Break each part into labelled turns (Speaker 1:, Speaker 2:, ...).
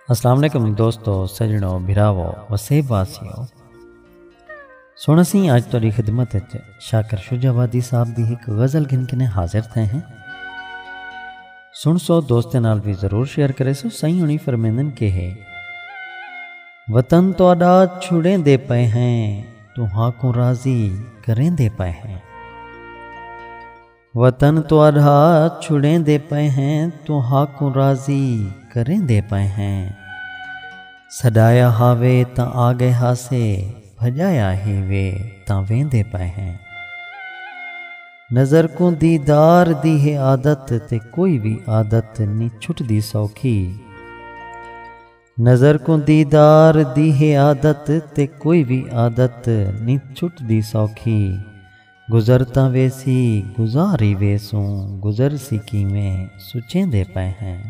Speaker 1: السلام علیکم دوستو سجنو بھراو وسیب واسیو سن اسی اج تیری خدمت وچ شاکر شجاع وادی صاحب دی ایک غزل گھن کنے حاضر تھے ہیں سن سو دوست نال بھی ضرور شیئر کرے سو سائیں ہنی فرمیندن کہ ہے وطن تو اڈا چھڑیں دے پے ہیں تہاکوں راضی کریندے پئے ہیں۔ وطن تہاڈا چھڑیندے پئے ہیں تہاکوں راضی کریندے پئے ہیں۔ سڈایا ہاوے تاں آگئے ہاسے بھجایا ہیوے تاں ویندے پئے ہیں۔ نظر کوں دیدار دی ہے عادت تے کوئی وی عادت نی چھٹدی سوکھی۔ نظر کوں دیدار دی ہے عادت تے کوئی وی عادت نی چھٹدی سوکھی گزر تاں ویسی گزار ای ویسوں گزرسی کیویں سچیندے پئے ہیں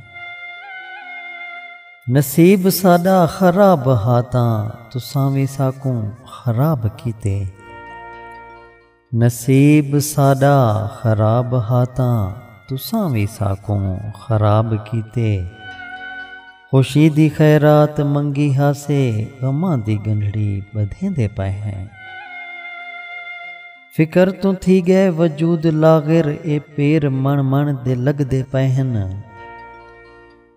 Speaker 1: نصیب ساڈا خراب ہا تاں تساں وی ساکوں خراب کیتے۔ نصیب ساݙا خراب ہا تاں تساں وی ساکوں خراب کیتے۔ خوشی دی خیرات منگی ہاسے غماں دی ڳنڈھڑی ٻدھیندے پئے ہیں۔ فکر توں تھی ڳئے وجود لاغر اے پیر مݨ مݨ دے لڳدے پئے ہن۔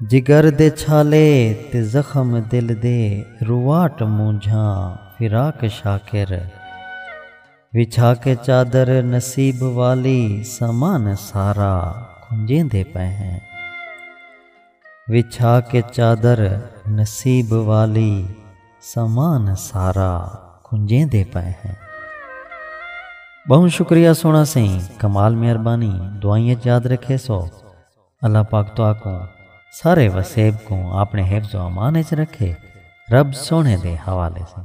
Speaker 1: جگر دے چھالے تے زخم دل دے رواٹ مونجھاں فراق شاکر وچھا کے چادر نصیب والی سامان سارا کھنجیندے پئے ہیں وچھا کے چادر نصیب والی سامان سارا کھنجیندے پئے ہیں بہوں شکریہ سونا سئیں کمال مہربانی دعائیں اچ یاد رکھیسو۔ اللہ پاک تہاکوں سارے وسیب کوں آپݨے حفظ و امان اچ رکھے رب سوہݨے دے حوالے سئیں۔